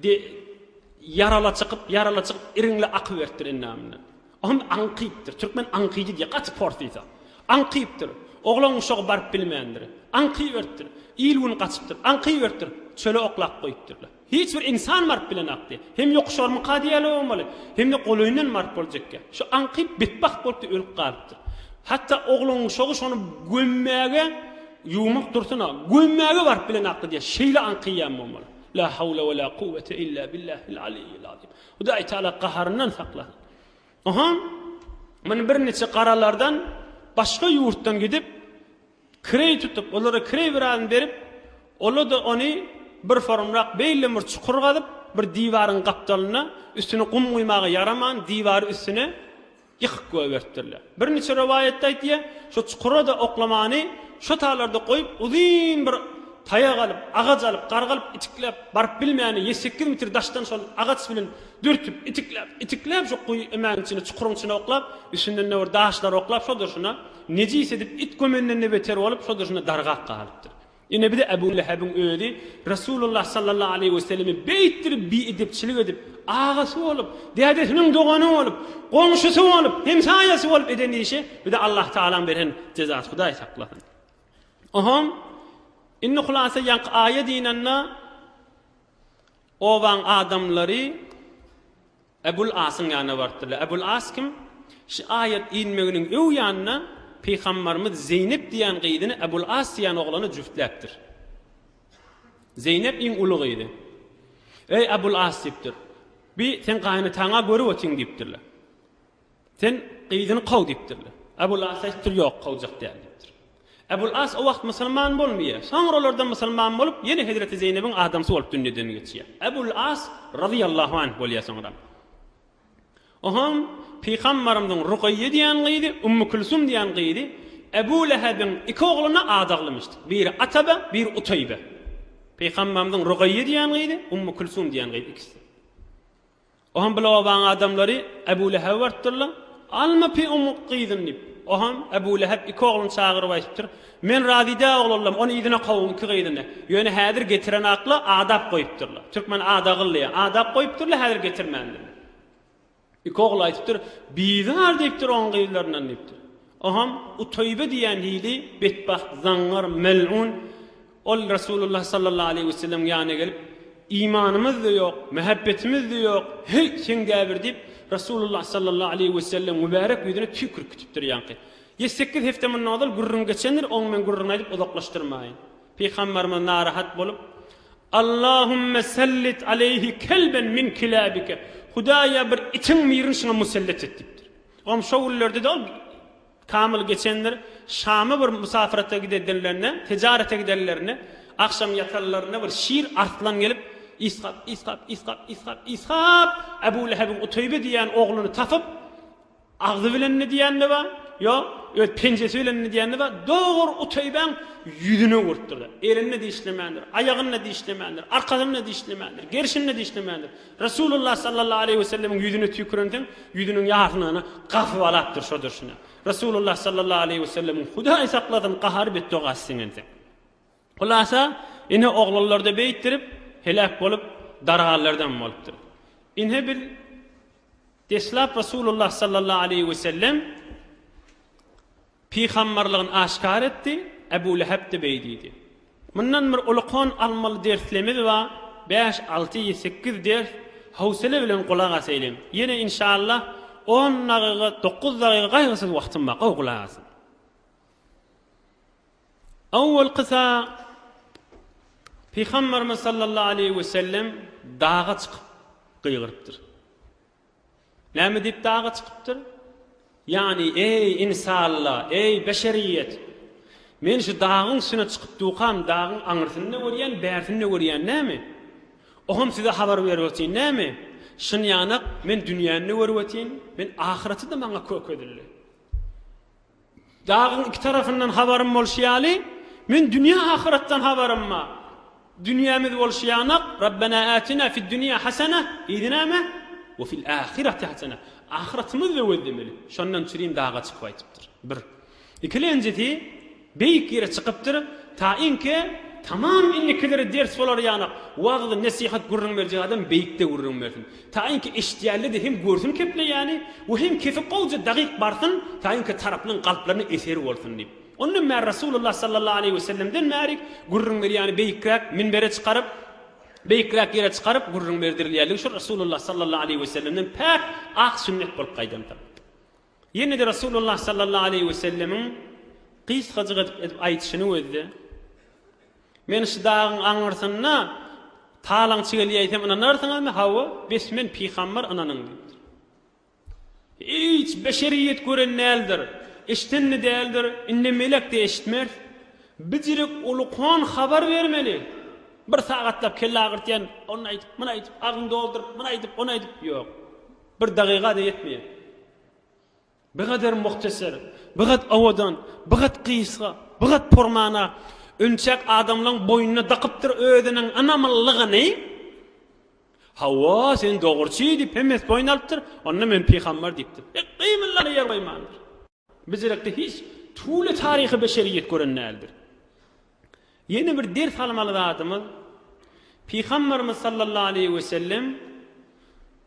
[SPEAKER 1] de ýarala çykyp, ýarala çykyp iriňle akyberipdir endamyndan. O hem aňkypdyr. Türkmen aňkyjy diýýär, gaty porsysa. Aňkypdyr. Oglan-uşagy baryp bilmändir. Aňkyberipdir. Il-gün gaçypdyr. Aňkyberipdir. Çöle oklap goýupdyrlar. Hiç bir ynsan Mart bilen akdy. Hem ýokuşarmyka diýýärler bolmaly, hem-de golaýyndan Mart boljakka. Şu aňkyp betbagt bolup-da ölüp galypdyr. Hatda ogluň uşagy şony gömmäge, ýuwmak dursun-a, gömmäge Mart bilen akdy diýýär. Şeýle aňkyýan bolmaly. La hawla we la kuwwete illa billahil aliyyil azim. Hudaý Taala gaharyndan saklasyn. Oho, muny birniçe garalardan başga ýurtdan gidip, kireý tutup, olara kireý biragyny berip, ola-da ony bir forumrak beýlden bir çukur gazyp, bir diwaryň gapdalynda üstüne gum guýmaga ýaraman diwary üstüne ýykyp goýberipdirler. Birniçe rowaýatda aýdýar, şo çukura-da oklamany şo taýlarda goýup, uzyn bir taýak alyp, agaç alyp, gargalyp, itikläp, baryp bilmäni ýedi, sekiz metr daşdan şol agaç bilen dürtüp, itikläp, itikläp, şo guýy, emäniň içine, çukuryň içine oklap, üstünden-de bir daşlar oklap, şo durşuna, Nejis edip, it gömenden-de beter bolup, şol-da şunda dargap galypdyr. Ine, bir-de Ebu Lehebiň özi Resulullah sallallahu aleýhi weselleme beýtdir biedepçilik edip, agasy bolup, dädesiniň dogany bolup, goňşusy bolup, hemsaýasy bolup eden işi, bir-de Allah Tagalaň beren jezasy, Hudaý saklasyn. Ohom, indi hulasa ýaňky aýat ynanda, obaň adamlary, Ebul Asyň ýanyna barypdyrlar. Ebul As kim? Şu aýat inmeginiň öw ýanyna Pygambarymyz Zeýnep diýýän gyzyny Ebul As diýýän oglana jübtläpdir. Zeýnep iň uly gyzy. Eý Ebul As diýipdir. Bi seň gaýynataňa görüp otyň diýipdirler. Sen gyzyny kow diýipdirler. Ebul As aýtdypdyr, Ýok, kowjak däl diýipdir. Ebul As o wagt musulman bolmaýar. Soňralardan musulman bolup, ýene hezreti Zeýnebiň adamsy bolup dünýeden geçýär. Ebul As razyýallahu anh bolýar soňra. O hem Pygambarymyzyň Rugaýýe diýen gyzy, Ummu Külsum diýen gyzy, Ebu Lehebiň iki ogluna at aglamyşdyk. Biri Atabe, biri Utaýbe. Pygambarymyzyň Rugaýýe diýen gyzy, Ummu Külsum diýen gyzy ikisi. Ohan bir obaň adamlary Ebu Lehebe barypdyrlar, Alma pi omuň gyzyny diýip. Ohan, Ebu Lehep iki ogluny çagyryp aýdypdyr, Men razy däl oglanlarym, ony yzyna kowuň iki gyzyny. Ýöne häzir getiren akla adap goýupdyrlar. Türkmen ada gylýar. Adap goýupdyrlar, häzir getirmändirler. Iki ogly aýdypdyr, Bizar diýipdir oň gyzlaryndan diýipdir. Ohan, Uteýbe diýen hili betbagt, zaňňar, melun, Ol Resulullah sallallahu aleýhi we sellemiň ýanyna gelip, Imanymyz-da ýok, mähebbetimiz-de ýok, heý, seňdäbir diýip, Resulullah sallallahu aleýhi we sellemiň mübärek ýüzüne tüýk urip gitipdir ýaňky. Ýedi, sekiz hepde mundan ozal gürrüň geçendir, oň men gürrüňi aýdyp uzaklaşdyrmaýyn. Pygamberimiz narahat bolup, Allahümme sellit aleýhi kelben min kilabike, Hudaýa bir itiň birini şuňa musellet et diýipdir. Oňa şo günlerde-de ol Kamyl geçendir Şama bir musapyrata gidedenlerinde, tejarete gidenlerinde, agşam ýatanlarynda bir şir arslan gelip, Yshak, Yshak, Yshak, Yshak, Yshak, Ebu Lehebiň Uteýbe diýen ogluny tapyp, agzy bilen ne diýende bar, ýok, öz penjesi bilen ne diýende bar, dogry Uteýbäň ýüzüne urupdyr-da, elini dişlemändir, aýagyny dişlemändir, arkasyny dişlemändir, gerşini dişlemändir, Resulullah sallallahu aleýhi we sellemiň ýüzüne tüýkürensoň, ýüzüniň ýarsynyny gazbalapdyr şo durşuna. Resulullah sallallahu aleýhi we sellemiň, Hudaý saklasyn, gahary betdogasy siňensoň. Hulasa, ine oglanlarda beýtdirip, heläk bolup, darganlardam bolupdyr. Ine biz deslap Resulullah sallallahu aleýhi we sellem, Pygamberligini aşkar etdi, Ebu Lehep-de beý diýdi. Mundan bir ulukan almaly derslemiz bar, bäş, alty, sekkiz ders, howsele bilen gulak asaýylyň. Ýene inşallah on dagyga, dokuz dagyga gaýgysyz wagtym bar, gowy gulak asyň. Owalky sa Pygamberimiz sallallahu aleýhi wesellem daga çykyp gygyrypdyr. Näme diýip daga çykypdyr? Ýagny, Eý, ynsanlar, eý, beşeriýet! Men şu dagyň üstüne çykyp dukam, dagyň aňyrsyny-da görýän, bärsini-de görýän, näme? Oňam size habar berip ötýän, näme? Şynýanak, men dünýäni-de görüp ötýän, men ahyreti-de maňa köke edildi. Dagyň iki tarapyndan habarym bolşy ýaly, men dünýe-ahyretden habarym bar. Dünýämiz bolşy ýanak, Rabbena ätina fid-dünýä hasene, yzy näme? We fil-ahyreti hasene. Ahyretimizi-de gözlemeli. Şondan çürin daga çykyp aýdypdyr. Bir. Ikilenjisi, beýik ýere çykypdyr, taýynki tamam indikilere ders bolar ýanak, wagz-nesihat gürrüň berjek adam beýikde gürrüň bersin. Taýynki eşitýänleri-de hem görsün kepleýäni we hem kepi gowja dagyk barsyn, taýynki tarapynyň kalplaryna eser bolsun diýip. Ondan bäri Resulullah sallallahu aleýhi we sellemden bäri gürrüň berýäni beýikräk minbere çykaryp, beýikräk ýere çykaryp gürrüň berdirilýärligi şu Resulullah sallallahu aleýhi we sellemden päk ak sünnet bolup gaýdandyr. Ýene-de Resulullah sallallahu aleýhi wesellemiň gysgajyk edip aýdyşyny gözle. Men şu dagyň aňyrsynda talaňçy gelýäýsem ynanarsyňyzmy? Hawa, bes men pygambar ynanyň diýipdir. Hiç beşeriýet gören däldir, eşiden-de däldir, indi melek-de eşitmez. Bijirik ulukan habar bermeli. Bir sagatlap kelle agyrtýan, ony aýdyp, muny aýdyp, agzyny dolduryp, muny aýdyp, ony aýdyp, ýok. Bir dagyga-da ýetmeýär. Bigader muhteser, bigat owadan, bigat gysga, bigat purmana ünçek adamlaň boýnuna dakypdyr özüniň ynamlylygyny. Hawa, sen dogruçy diýip hemmesi boýun alypdyr. Onda men pygamber diýipdir. Hek, gymyllana ýer goýmandyr. Biz derekde hiç türli taryhy beşeriýet gören däldir. Ýene bir ders almaly zadymyz, Pygamberimiz sallallahu aleyhi we sellem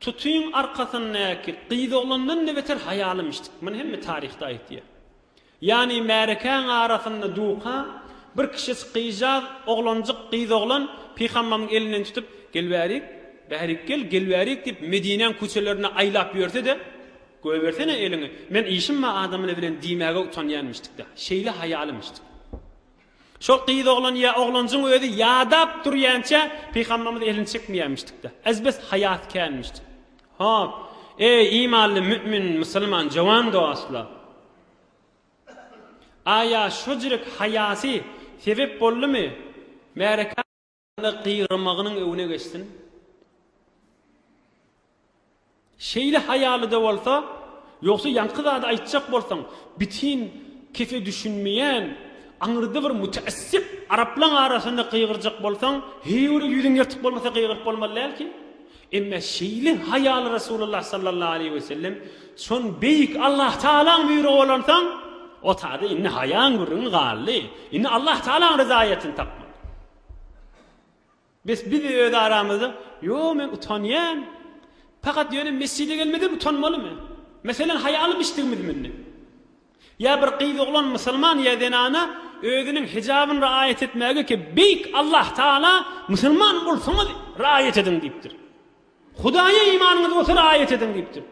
[SPEAKER 1] tutyň arkasyndaky gyz oglandan ne beter haýalymişdik. Muny hemme taryhda aýtýar. Ýani märekäň arasynda duka bir kişi gyjaz oglanjyk gyz oglan Pygamberimiň elinden tutup, gel bärik, bärik gel, gel bärik diýip Medinäň köçelerine aýlap ýörse-de, Goýbersene eliňi, men işim bar adamyny bilen diýmäge utanýanmyşdykda. Şeýle haýalymyşdyk. Şol gyz oglan ýa oglanjyň özi ýadap durýança Pygamberimiz elini çekmeýänmişdikda. Ezbes haýasy känmişdik. Hop, eý imanly mü'min, musulman jowan dostlar! Aýa şojrek haýasy sebep boldumy märeka? we gygyrmagynyň öňüne geçsin. Şeýle haýalyda bolsa, ýogsa ýaňky zady aýtjak bolsaň, bitin kese düşünmeýän, aňyrda bir müteessip araplaň arasynda gygyrjak bolsaň, heý ol ýüzüň ýyrtyk bolmasa gygyryp bolmaly dälki. Emma şeýle haýaly Resulullah sallallahu aleýhi we sellem şon beýik Allah Tagalaň buýrugy bolansoň, Otady indi haýaň gürrüňi galdy. Indi Allah Tagalaň ryzaýetini tapmaly. Bes biz öz aramyzda Ýo men utanýan. Pakat ýöne mesjide gelmeden utanmalymy? Meselen haýa alyp içdigimizmi indi? Ýa bir gyz oglan musulman ýa zenana özüniň hijabyny raýat etmäge ki beýik Allah Taala musulman bolsaňyz raýat ediň diýipdir. Hudaýa imanyňyz bolsa raýat ediň diýipdir.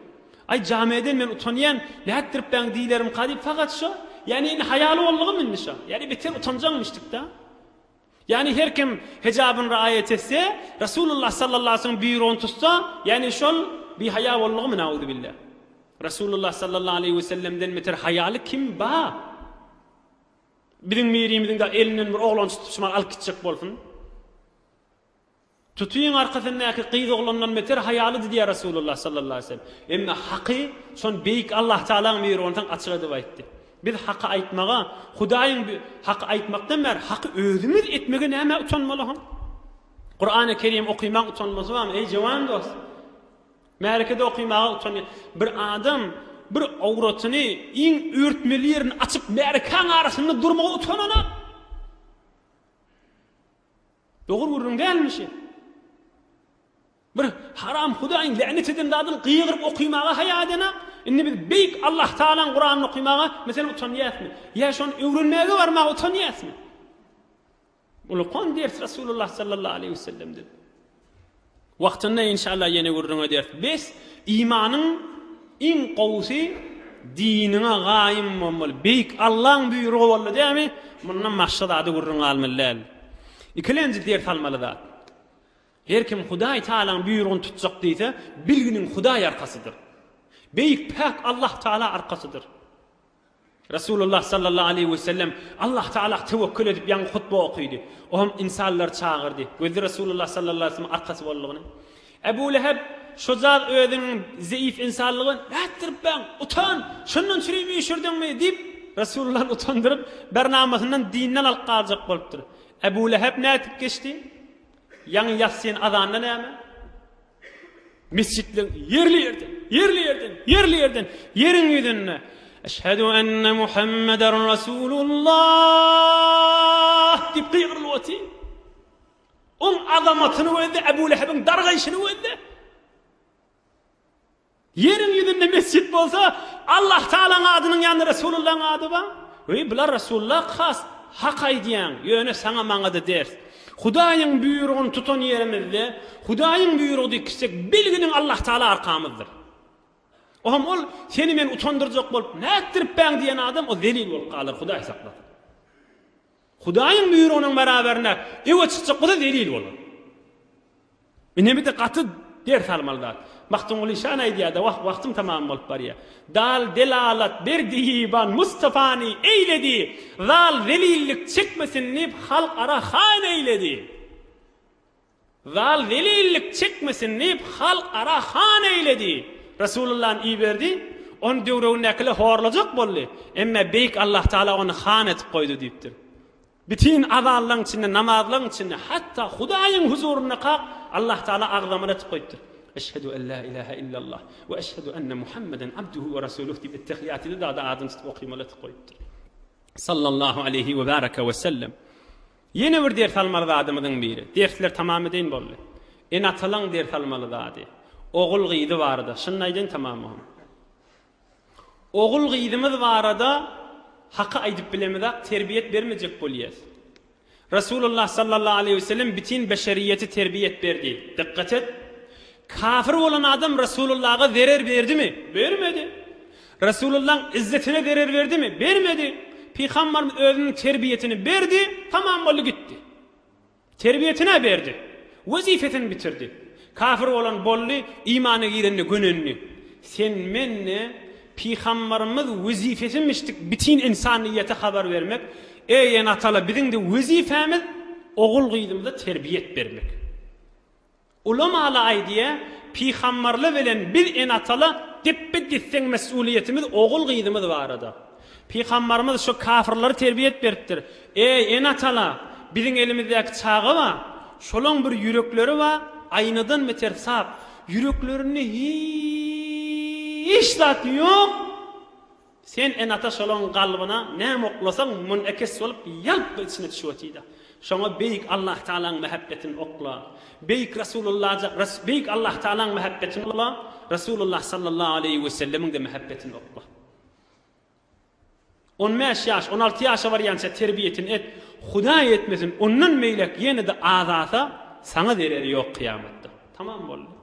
[SPEAKER 1] Aý, jamiýeden men utanýan, nätdiripbäň diýlerimka diýip fakat şo, ýani indi haýaly boldugam indi şo, ýani beter utanjaňmyşdykda. Ýani her kim hejabyn raýat etse, Resulullah sallallahu aleyhi ve sellem büýrügini tutsa, ýani şol bihaýa boldugmy nauzubilla. Resulullah sallallahu aleyhi ve sellemden beter haýaly kim ba? Biziň birimiziň de elinden bir oglan tutup şumal alyp gitjek bolsun. Tutyň arkasyndaky gyz oglandan beter haýalydy diýýär Resulullah sallallahu aleýhi we sellem. Emma haky şony beýik Allah Tagalaň myry onsoň açyk edip aýtdy. Biz haky aýtmaga, Hudaýyň haky aýtmakdan bäri haky özümiz etmege nämä utanmaly hon? Kurany Kerim okymaň utanmasy barmy eý jewan dost? Märekede okymaga utanýa. Bir adam bir awratyny iň örtmeli ýerini açyp märekäň arasynda durmaga utanana. Dogry gürrüň dälmi şi? Bir haram Hudaýyň länet eden zadyny gygyryp okymaga haýa edenok. Indi biz beýik Allah Tagalaň Kuranyny okymaga meselem utanýasmy? Ýa şony öwrenmäge barmaga utanýasmy? Ulkan ders Resulullah sallallahu aleýhi we sellem dedi. Wagtynda inşallah ýene gürrüň ederis. Bes imanyň iň gowusy diniňe gaýym bolmaly. Beýik Allaň buýrugy boldy dämi, mundan başga zady gürrüň galmaly däl. Ikilenji ders almaly zat. Her kim Hudaý Tagalaň buýrugyny tutjak diýse, bilginiň Hudaý arkasydyr. Beýik päk Allah Tagala arkasydyr. Resulullah sallallahu aleýhi we sellem Allah Tagala tewekül edip ýaňy hutba okydy. O hem ynsanlary çagyrdy. Gözli Resulullah sallallahu aleýhi we sellem arkasy boldugyny. Ebu Leheb şo zat özüniň zeýif ynsanlygy nätdiripbäň, utan, şondan çürim üýşürdiňmi? diýip, Resulullany utandyryp, bir namasyndan dinden alyp galjak bolupdyr. Ebu Leheb nätip geçdi? Ýaňy ýassyn azanda näme? Mesjitleň ýerli ýerden, ýerli ýerden, ýerli ýerden, ýeriň ýüzünde Eşhedü enne Muhammeder Resulullah diýip gygyrylyp otyr. Ol azamatyny gözde, Ebu Lehebiň dargaýşyny gözde. Ýeriň ýüzünde mesjit bolsa, Allahtagalaň adynyň ýanynda Resulullaň ady bar. Weý, bular Resulullah has hak aýdýaň, ýöne saňa-maňa-da ders. Hudaýyň buýrugyny tutan ýerimizde, Hudaýyň buýrugy diýip gitsek, bilginiň Allahtagala arkamyzdyr. Ohm, ol seni men utandyrjak bolup nätdiripbäň diýen adam, o zelil bolup galar, Hudaý saklasyn. Hudaýyň buýrugynyň baraberine öe çykjak bolsa zelil bolar. Inemide gaty ders almaly zat. Magtymguly şan aýdýada wah wagtym tamam bolup barýa. Dal delalat berdi Ýyban Mustafany eýledi Zal zelillik çekmesin diýip halk ara han eýledi Zal zelillik çekmesin diýip halk ara han eýledi Resulullan iberdi Ony döwregindäkiler horlajak boldy Emme beýik Allah taala ony han etip goýdy diýipdir. Bütin azanlaň içinde, namazlaň içinde, hatda Hudaýyň huzuryndakak Allah Taala agzamana etip goýupdyr. Eşhedü en la ilahe illallah we eşhedü enne Muhammeden abduhu we rasuluh diýip ettehiýatyny dada adyny tutup okymaly etip goýupdyr. Sallallahu aleýhi we baraka we sellem. Ýene bir ders almaly zadymyzyň biri. Dersler tamam edeýin boldy. Ene-atalaň ders almaly zady. Ogul-gyzy barada. Şuny aýdaýyn tamamyhym. Ogul-gyzymyz barada Haky aýdyp bilemizak terbiýet bermejek bolýas. Resulullah sallallahu aleýhi we sellem bitin beşeriýeti terbiýet berdi. Dykgat et! Kafir bolan adam Resulullaga zerer berdimi? Bermedi. Resulullaň izzetine zerer berdimi? Bermedi. Pygambarymyz özüniň terbiýetini berdi, tamam boldy gitdi. Terbiýesine berdi. Wezipesini bitirdi. Kafir bolan boldy, imana girende gönendi. Sen mende Pygambarymyz wezipesini biçdik bitin insanyýete habar bermek, eý enatala biziňde wezipemiz ogul gyzymyza terbiýet bermek. Ulamaly aýdýa, Pygambarla bilen biz ene-atala depbe-desseň mes'uliýetimiz ogul-gyzymyz barada. Pygambarymyz şo kafyrlary terbiýet beripdir, Eý, ene-atala, biziň elimizdäki çaga ba, şolaň bir ýürekleri ba, aýnadan beter sap, ýüreklerinde hiç zat ýok, Sen enata şolaň galbyna näme oklasaň munekes bolup ýalply içine düşüp otyda. Şoňa beýik Allah Tagalaň mähebbetin okla. Beýik Rasulullaja beýik Allah Tagalaň mähebbetin okla, Rasulullah sallallahu aleýhi we sellemiňde mähebbetin okla. On bäş ýaş, on alty ýaşa barýança terbiýetin et, Hudaý etmesin ondan beýläk ýene-de azasa saňa zereri ýok kyýamatda. Tamam boldy.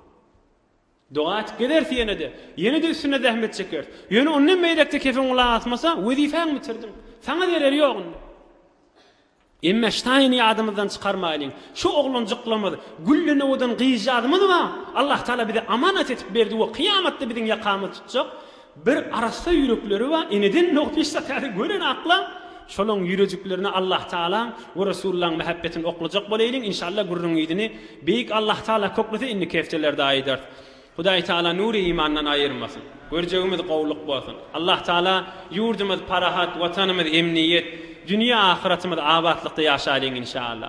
[SPEAKER 1] Doga atyp gezeris ýene-de. Ýene-de üstünde zähmet çekeris. Ýöne ondan beýläk-de kefen gulak asmasa, wezipäňi bitirdiň. Saňa zereri ýok indi. Emme Ştaýny ýadymyzdan çykarmaýlyň. Şu oglanjyklarymyz, gülden owadan gyzjagazymyz bar. Allahtagala bize amanat edip berdi we kyýamatda biziň ýakamyzy tutjak. Bir arassa ýürekleri bar, eneden nohut iş satyary gören akla, şolaň ýürejiklerine Allah Tagalaň we Resullaň mähebbetini oklajak boleýliň inşalla gürrüň yzyny Beýik Allah Tagala köklese indiki heftelerde aýdarys. Hudaý Tagala nury imandan aýyrmasyn. Görjegimiz gowulyk bolsun. Allah Tagala ýurdumyz parahat, watanymyz emniýet, dünýe ahyratymyz abatlykda ýaşaýlyň inşalla.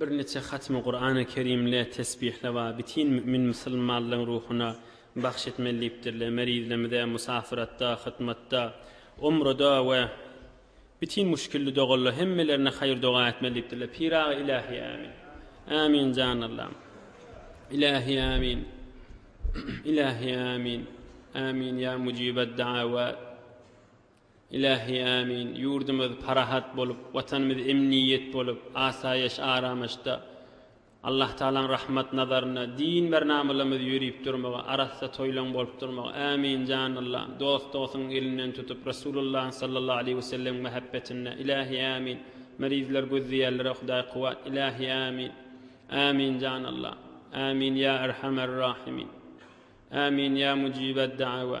[SPEAKER 1] Birniçe hatmy Kurany Kerimle tesbihle wa bitin mümin musulmanlaryň ruhuna bagş etmeli diýipdirler. Mer izlemize musafyratda, hytmatda, umrada we bitin muşgilli doganla hemmelerine haýyr doga etmeli diýipdirler. Pyragy Ilahi Amin. Amin jan Allam. Ilahi Amin. Ilahi Amin. Amin ya mucibad da'awat. Ilähi Ämin, ýurdumyz parahat bolup, Watanymyz emniýet bolup, asaýaş aramaşda, Allah Tagalaň rahmat nazarynda, din bir namalarymyz ýörüp durmagy, arassa toýlaň bolup durmagy, Ämin jan Allam, dost dogsuň elinden tutup, Resulullahyň sallallahu aleýhi we sellemiň mähebbetinde, Ilähi Ämin, merizler gözleýärlere Hudaý kuwat, Ilähi Ämin, Ämin jan Allam, Ämin ýa Erhamer Rahimin, Ämin ýa Mujibed Da'awa.